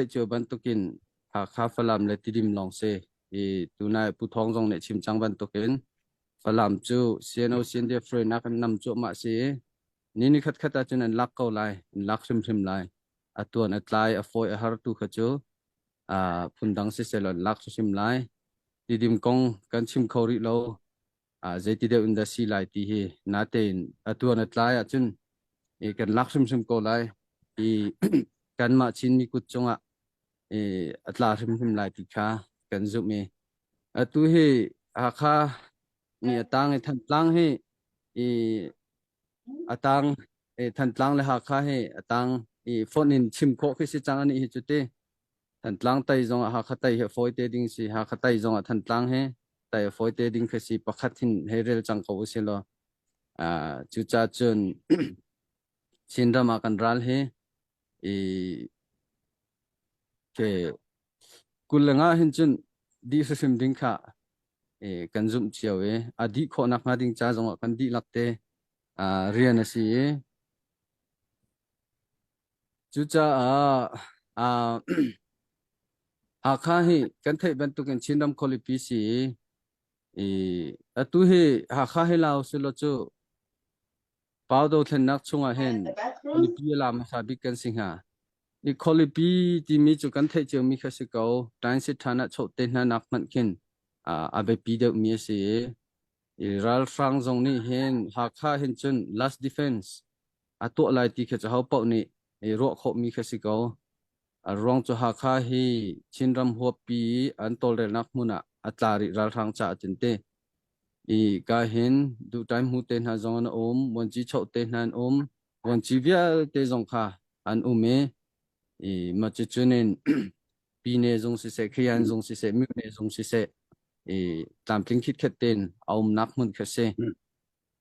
Theih cio bantukin Hakha Falam le Tidim lawng si i tunai Pu Thawng zong nih chim cang bantukin Falam cu CNO CNDF hruainak in nam cuahmah si i ni ni khat khat ahcun an lak ko lai an lak hrimhrim lai a tuan a tlai a fawi a har tu kha cu phundang si sel an lak hrimhrim lai tidim kong kan chim kho rih lo Zeiti deuh in dah si lai ti hi natein atu na tlai ahcun i kan lak hrimhrim ko lai i kanmah Chinmi kut cungah i a tla hrimhrim lai ti kha kan zumh i atu hi Hakha ni a tang i Thantlang hi i a tang i Thantlang le Hakha hi a tang i fonh in chim khawh khi si cang anih hi cu ti. Thantlang tei zongah Hakha tei hi a fawi te ding si. Hakha tei zongah Thantlang hi tei a fawi te ding khi si. Pakhat hin hei rel cang ko u si law. Uh, cuca cun Chinram ah kan ral hi i ke kullangah hin cun dih hrimhrim ding kha e, kan zumh cio i a dih khawhnak hnga ding ca zongah kan dih lak te uh, rian a si i Cucaah aa, Hakha hi kan theih bantukin Chinram khualipi si i, i atu hi Hakha hi Lao si lo cu Pau dothlennak chungah hin khualipi a la hmasa bik kan si hnga. I khualipi timi cu kan theih ciomi kha si ko. Transit than ah choh te hna nak hmanh khin a, a biapi deuhmi a si i, i ralhrang zong nih hin Hakha hin cun last defense A tuah lai ti kha cu hopaoh nih i ruah khawhmi kha si ko. A ruang cu Hakha hi Chinram huappi i an tawlrelnak hmun ah a tla rih ralhrang caah tin ti. I ka hin duhtai hmu te hna zong an um, vuanci choh te hna an um, vuanci vialte zong kha an um i i macicun in pine zung siseh, khian zung siseh, myone zung siseh, i tlamtling khitkhet tein a umnak hmun kha si.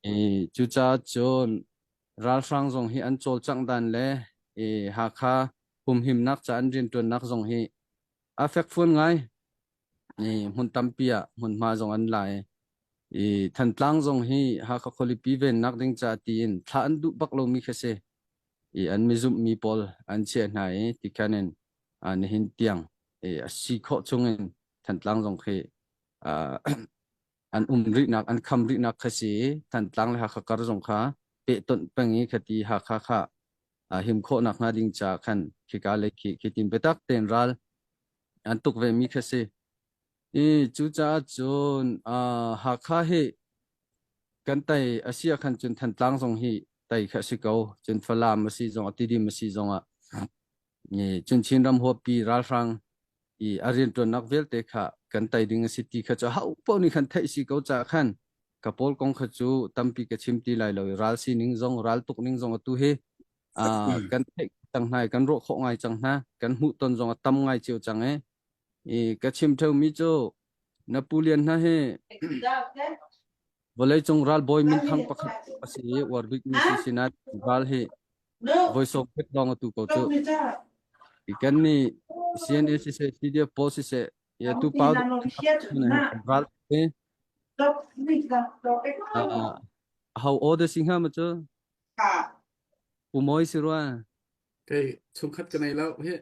I cucaah cun ralhrang zong hi an cawlcanghdan le i Hakha humhimnak ca an rianṭuannak zong hi a fekfuan ngai. I hmun tampi ah hmunhma zong an la i, i Thantlang zong hi Hakha khualipi vennak ding caah tiin thlah an duh bak lomi khi a si. I an mizumhmi pawl an chiah hna i tikhan in ah nihin tiang i a si khawh chung in Thantlang zong khi ah an um rihnak an kham rihnak kha si i Thantlang le Hakha kar zong kha pehtonh peng i khati Hakha kha him khawhnak hnga ding ca khan khika le khi khi tim biatak tein ral an tuk ve mi kha si i cucaah cun Hakha hi kan tai asia khan cun Thantlang zong hi tai kha si ko cun Falam a si zong a Tidim a si zong ah Chin ram huapi ralhrang i a riantuannak vialte kha kan tei ding a si ti kha cu hopoh nih khan theih si ko caah khan ka pawl kong kha cu tampi ka chim ti lai lo i ral sining zong ral tuk ning zong atu hi kan theih cang hna i kan ruah khawh ngai cang hna kan hmuhton zong a tam ngai cio cang e i ka chim theumi cu Napoleon hna hi Vawleicung ralbawi minthang pakhat a si i uar bikmi si sinah ral hi voi sawm khat lawng a tu ko cuh. Kan nih CNLCC CDF pawl siseh ya tu pa ral hi hau order si nga ma cu u moi si rwa kei chungkhat ka nei lo hi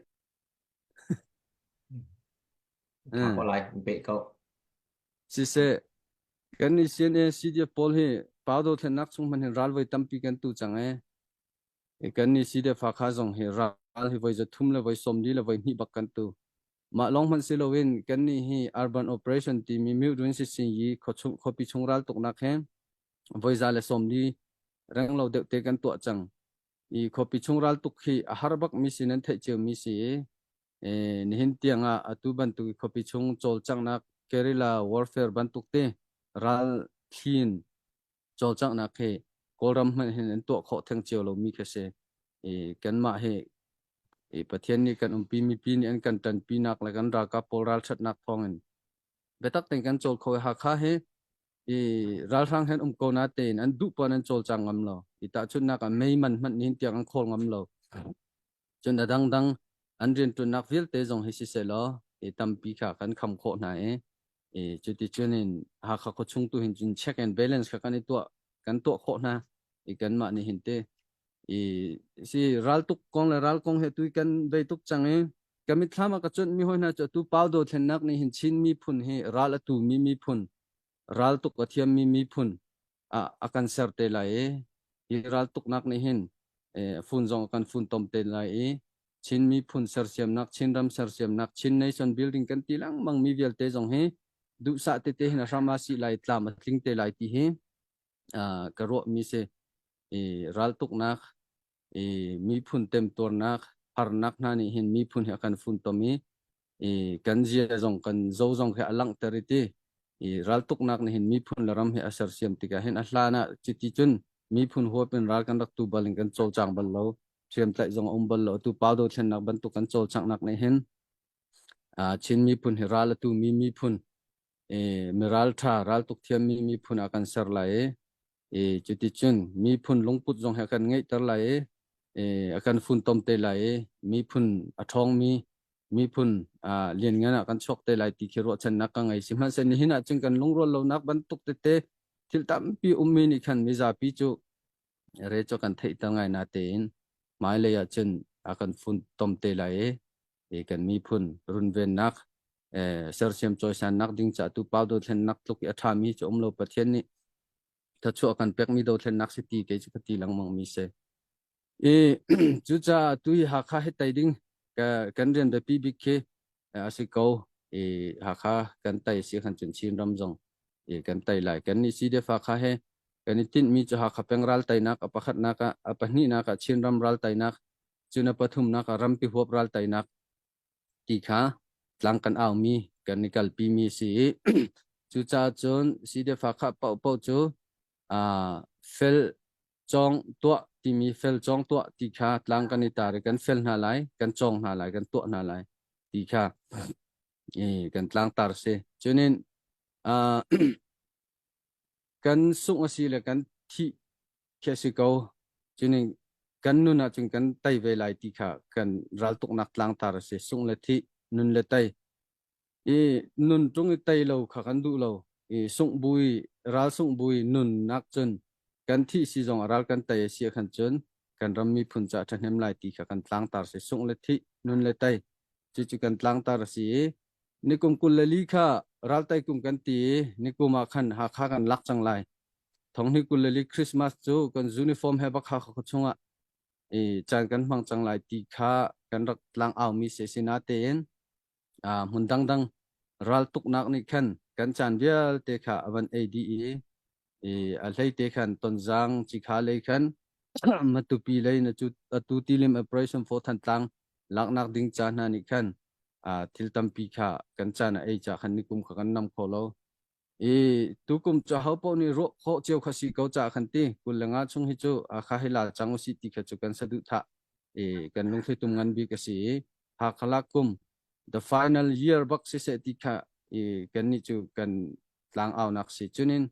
Ko lai be ko Siseh, kan i sin i sidia pawl hi pa dothlennak chung hmanh hin ral voi tampi kan tu cang e. I kan i sidia fa kha zong hi ral hi voi za thum le voi sawm li le voi hnih bak kan tu. Mah lawng hmanh si loin kan ni hi Urban Operation timi Mildrin Sitsin yi khuapi chung ral tuknak he voi za le sawm li reng lo deuh te kan tuah cang. i khuapi chung ral tuk khi a har bak mi si nan theih cio mi si i nihin tiang ah atu bantuk i khuapi chung cawlcanghnak guerrilla warfare bantuk te ral thliin cawlcanghnak hi kawlram hmanh hin an tuah khawh theng cio lo mi kha si i kanmah hi i pathian nih kan umpi mi pi nih an kan tan pi nak le kan ralkap pawl ral that nak thawng in biatak ten kan cawl kho i hakha hi i ralhrang hen um ko na tein an duh puan an cawlcang ngam lo i tahchunnak ah mei man hmanh nin tiang an khawl ngam lo cun a dangdang an riantuannak vialte zong hi si selaw i tampi kha kan kham khawh hna i i cuti cunin hakha kho chung tu hin cun check and balance kha kan i tuah kan tuah khawh hna i kan mah nih hin te i si ral tuk kong le ral kong he tui kan dei tuk cang i Ka mitthlam ah ka cuanhmi hawi hna cu atu pau dothlennak nih hin Chin miphun hi ral a tumi miphun, ral tuk a thiammi miphun ah a kan ser te lai i hi ral tuknak nih hin fun zong a kan funtom te lai i Chin miphun sersiamnak, Chin ram sersiamnak, Chin nation building kan ti lengmang mi vialte zong hi duhsah tete hin a hram a si lai, tlam a tling te lai ti hi ka ruahmi si. I raltuknak i miphun temtuarnak harnak hna nih hin miphun hi a kan funtom i i kan zia zong kan zo zong hi a langhter i ti i raltuknak nih hin miphun le ram hi a sersiam tikah hin a hlan ah chiti cun miphun huap in ral kan rak tu bal in kan cawlcang bal lo hriamtlaih zong a um bal lo tu paldo thlennak bantuk kan cawlcangnak nih hin Chin miphun hi ral a tu mi miphun miralṭha raltuk thiammi miphun ah kan ser lai i cuticun miphun lungput zong hi a kan ngeihter lai i a kan funtom te lai i miphun a ṭhawngmi miphun lianngan ah kan chuak te lai ti khi ruahchannak ka ngei sihmanhsehlaw nihin ah cun kan lungrual lonak bantuk tete thil tampi ummi nih khan mizapi cu re cu kan theihter ngai na tein hmailei ah cun a kan funtom te lai i i kan miphun runvennak sersiam choisannak ding ca tu pau do thlennak tluk i a tha mi um lo pathian nih thachuah kan pek mi do thlennak si ti ke chu ka ti langmang mi se i cu ca tu hi hakha he tai ding kan rian da pi bik khi asi ko i hakha kan tai si kan chun chin ram zong i kan tai lai kan ni si de fa kha he kan i tin mi chu hakha peng ral tai nak a pakhat nak a pahnih nak a chin ram ral tai nak cu na pathumnak ah rampi huap ral tainak ti kha tlang kan aumi kan i kalpi mi si i cucaah cun sidefa kha paupo cu fel cawng tuah timi fel cawng tuah ti kha tlang kan i tar i kan fel hna lai kan cawng hna lai kan tuah hna lai ti kha kan tlang tar si cunin kan sung a si le kan thih khi a si ko cuning kan nun ahcun kan tei ve lai ti kha kan raltuknak tlangtar a si sung le thi nun le tei i nun tung i tei lo kha kan duh lo i sung bui ral sung bui nun nak cun kan thi si zong ral kan tei a si khan cun kan ram mi phun ca thahnem lai ti kha kan tlangtar se sung le thi nun le tei cu cu kan tlangtar a si i Nikum kul le li kha raltai kum kan ti i nikum ah khan Hakha kan lak cang lai. Thonghni kul le li Christmas cu kan uniform he bakha kha chungah i caan kan hmang cang lai ti kha kan rak tlang aumi se sina tein hmun dangdang raltuknak nih khan kan caan vialte kha a van ei dih i i a hleite khan tonzang chi kha lei khan matupi lei na cu atu tilim operation fo than tlang laknak ding cha hna nih khan thil tampi kha kan chan a ei cha khan nikum kha kan nam kho lo i tukum cha ho po ni ro kho cheu kha si ko cha khan ti kullanga chung hi chu a kha hila chang usi ti kha chu kan sadu tha e kan lungthli tum ngan bi ka si ha khalak kum the final year bak si se ti kha e kan ni chu kan tlangaunak si chunin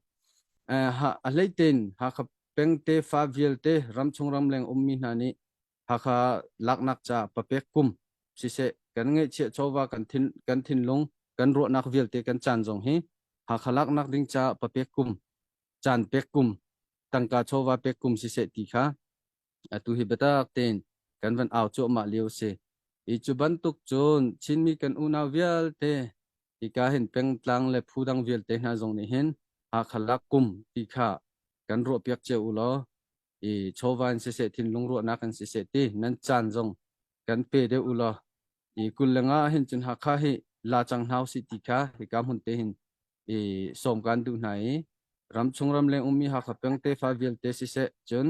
a hleitein hakha pengte fa vialte ramchung ramleng ummi hna nih hakha laknak ca papek kum siseh kan ngeihchiah chawva kan thin kan thinlung kan ruahnak vialte kan chan zong hi hakha laknak ding ca papek kum chan pek kum tangka chawva pek kum siseh ti kha Atu hi biatak tein kan van au cuahmah lio si. Hi cu bantuk cun Chinmi kan unau vialte hika hin pengtlang le phu dang vialte hna zong nih hin Hakha lak kum ti kha kan ruahpiak cio u law i chawva in siseh thinlung ruahnak in siseh ti nan caan zong kan pe deuh u law i kul lengah hin cun Hakha hi la cang hna usih ti kha hika hmun te hin i sawm kan duh hna i ramchung ramleng ummi Hakha peng tefa vialte siseh cun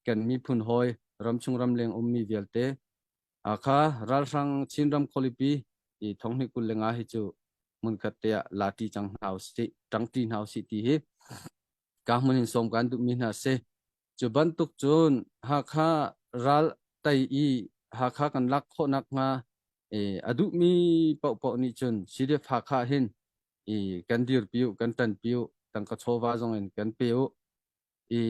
kan miphun hawi ramchung ramleng ummi vialte Hakha ralhrang Chinram khualipi i thonghni kul lenga hi cu hmunkhat te ah la ṭi cang hna usih ṭang ṭi hna usih ti hi ka hmun hin sawm kan duhmi hna si Cu bantuk cun Hakha ral tei i Hakha kan lak khawh nakhnga i a duhmi paohpaoh nih cun CDF-Hakha hin i kan dirpi u, kan ṭanpi u, tangka chawva zong in kan pe u. I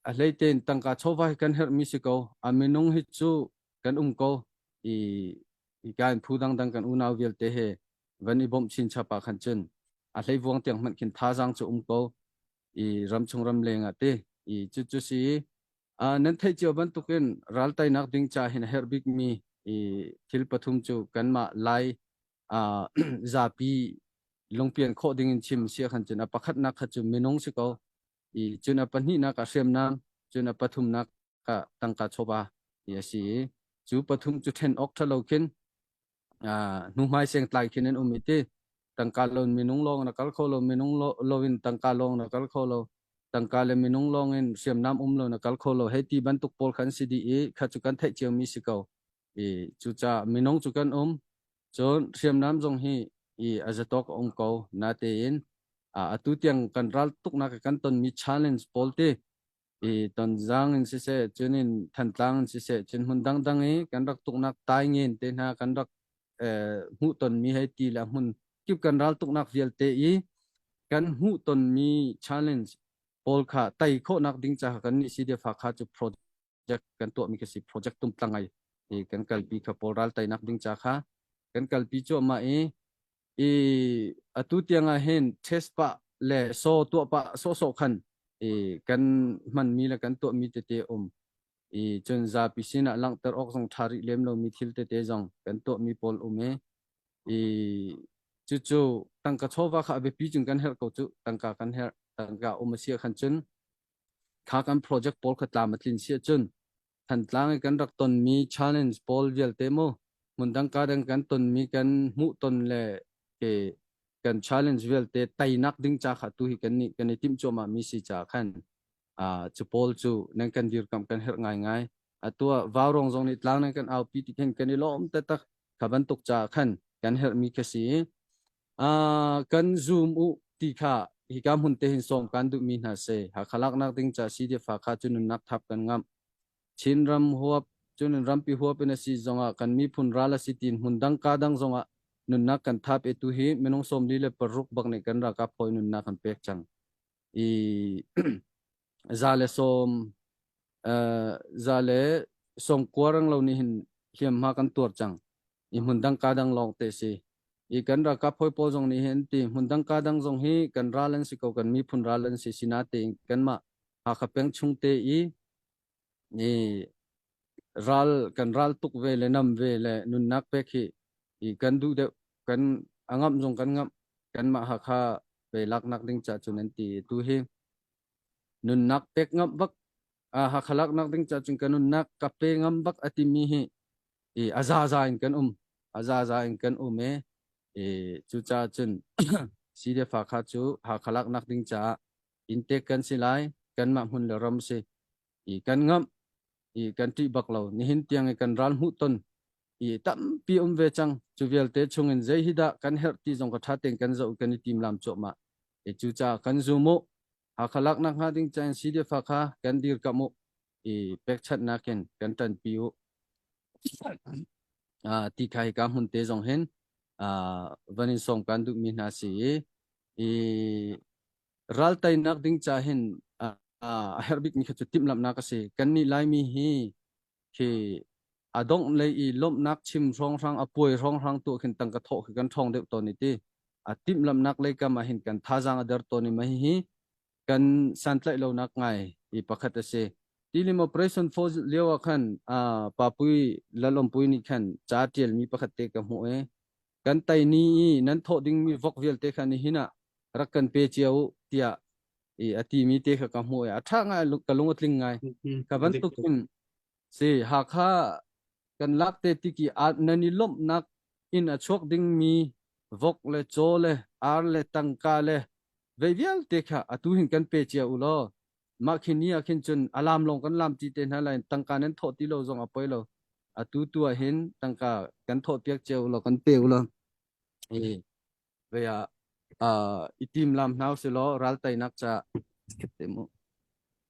a hleitein tangka chawva hi kan herhmi si ko. A minung hi cu kan um ko i hika in phu dangdang kan unau vialte he van i bawmh chin chapa khan cun a hleivuang tiang hmanh khin thazaang cu um ko. i ramchung ramleng ah te i cu cu si nan theih cio bantuk in raltainak ding ca hin a herh bik mi i thil pathum cu kanmah lai zapi lungpian khawh ding in chim sia khan cun a pakhatnak kha cu minung si ko i cun a pahnihnak a hriamnam cun a pathumnak ka tangka chawba i a si i cu pathum cu ṭhen awk ṭhalo khin hnuhmai sengtlai khin an um i ti tangka lon minung lawng na kal kho lo minung lo in tangka lawng na kal kho lo tangka le minung lawng in hriamnam um lo na kal kho lo hei ti bantuk pawl khan si di i kha chu kan theih cio mi si ko i cuca minung chu kan um cun hriamnam zong hi i azatok um ko na tein atu tiang kan ral tuk nak kan ton mi challenge pawl ti i Tonzang in siseh, cun in Thantlang in siseh, cun hmun dangdang i kan rak tuknak taingin te hna kan rak eh, hmuh tonmi hei ti le hmun kip kan ral tuknak vialte i kan hmuh tonmi challenge pawl kha tai khawhnak ding ca kan nih si defa kha cu project kan tuahmi ka si project tum tlangai i kan kalpi kha pawl ral tainak ding ca kha kan kalpi cuahmah i I atu tiangah hin test pah le saw tuah pah sawhsawh khan i kan hmanmi le kan tuahmi tete um i cun zapi sinah langhter awk zong ṭha rih lem lomi thil tete zong kan tuahmi pawl um i i cucu tangka chawva kha a biapi cun kan herh ko cu tangka kan herh tangka um a si khan cun kha kan project pawl kha tlam a tlin si cun Thantlang i kan rak tonmi challenge pawl vialte maw hmundang kadang kan tonmi kan hmuhton le ke kan challenge vialte teinak ding ca kha tu hi kan nih kan i timh cuahmah mi si caah khan uh, cu pawl cu nan kan dirkamh kan herh ngaingai atu ah vaurawng zong nih tlang nan kan aupi ti khin kan i lawm taktak kha bantuk ca khan kan herhmi ka si Ah, kan zoom u ti kha hika hmun te hin som kan duhmi hna se Hakha laknak ding ca CDF kha cu nunnak thap kan ngamh Chin ram huap cun rampi huap in asi zongah kan miphun ral asi tin hmun dang ka dang zongah nunnak kan thap e tu hi minung somli le paruk bak nih kan rakap hoi nunnak kan pek chang i za le som uh, za le song kuarang lo ni hin hliam ma kan tuar chang i hmundang ka dang lawng te si i kan ralkap hawi pawl zong nih hin ti hmundang ka dang zong hi kan ral an si ko kan miphun ral an si sina tein kanmah Hakha peng chung te i i ral kan ral tuk ve le nam ve le nunnak pek hi i kan duh deuh kan angam zong kan ngam kanmah Hakha pe laknak ding cha cun an ti tu hi nunnak pek ngam bak Ah, Hakha lak nak ding cacun kan unnak ka pe ngam bak a timi hi i a za za in kan um a za za in kan um e i cu ca cun CDF Hakha cu Hakha lak nak ding ca intek kan si lai kan mah hmun le ram si i kan ngam i kan ti bak lo nihin tiang i kan ral mu ton i tampi um ve chang cu vialte chungin zei hi dah kan herh ti zong ka tha ten kan zo kan i tim lam chuah ma e cu ca kan zu mu Hakha lak nak hnga ding can si deuh fa kha kan dirkamh u i pekchanh nakin kan ṭanpi u. Ah, ti khai ka hmun te zong hin ah, van in sawm kan duh mi hna si i i ral tainak ding ca hin ah, ah, a herh bik mi kha cu timhlamhnak a si. Kan nih Laimi hi khi a dongh lei i lawmhnak chim hrawnghrang a puai hrawnghrang tuah khin tangka thawh khi kan ṭhawng deuh tawn i ti a timhlamhnak lei kam ah hin kan thazaang a der tawn i ma hihi kan santlaih lonak ngai i pakhat a si tilim operation for lio ah khan uh, papui lalawmpui nih khan ca ṭialmi pakhat te ka hmuh e kan tai ni i nan thawh dingmi vok vialte khan hi na rak kan pe cia u tiah i a timi te kha ka hmuh i a ṭha ngai ka lung a tling ngai ka bantuk in si hakha kan lak te ti ki at nan i lomhnak in a chuak dingmi vok le chaw le ar le tangka le vei vialte kha atu hin kan pe cia u law mah khin ni ah khin cun alam lawng kan lam ti te hna lai tangka nan thawh ti lo zong a poi lo atu tu ah hin tangka kan thawh piak cia u law kan pe u law Ve ah uh, i tim lam hna si law ral tainak ca te mu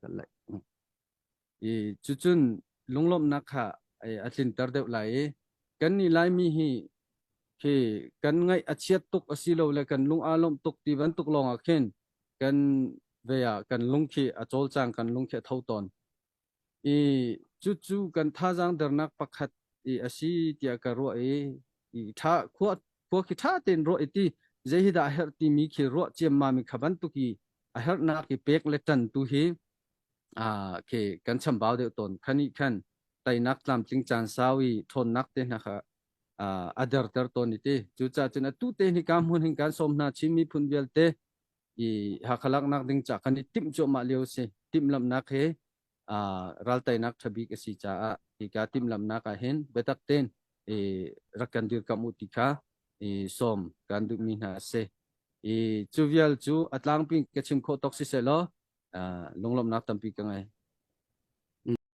kan lai. I cucun lunglawmhnak kha a tlinter deuh lai i kan ni lai mi hi khi kan ngaih a chiat tuk a si lo le kan lung a lawmh tuk ti bantuk lawngah khin kan ve ah kan lung khi a cawl cang kan lung khi a tho tawn I cucu kan thazaang dernak pakhat i a si tiah ka ruah i i ṭha khua khua khi ṭha tein ruah i ti zei hi dah a herh timi khi ruah ciammam in kha bantuk i a herhnak i pek le ṭan tu hi aa khi kan chambau deuh tawn kha nih khan teinak tlamtling caan sau i ṭhawnnak te hna kha a derter tawn i ti cucahcun atu te hi ka hmun hin kan sawm hna chin miphun vialte i Hakha laknak ding ca kan i timh cuahmah lio si timhlamhnak hi uh, raltainak thabik a si caah hi ka timhlamhnak ah hin biatak ten i rak kan dirkam u ti kha i som kan duhmi hna se i cu vial cu atlang pin ka chim khawh tok si se law uh, lunglomnak tampi ka ngai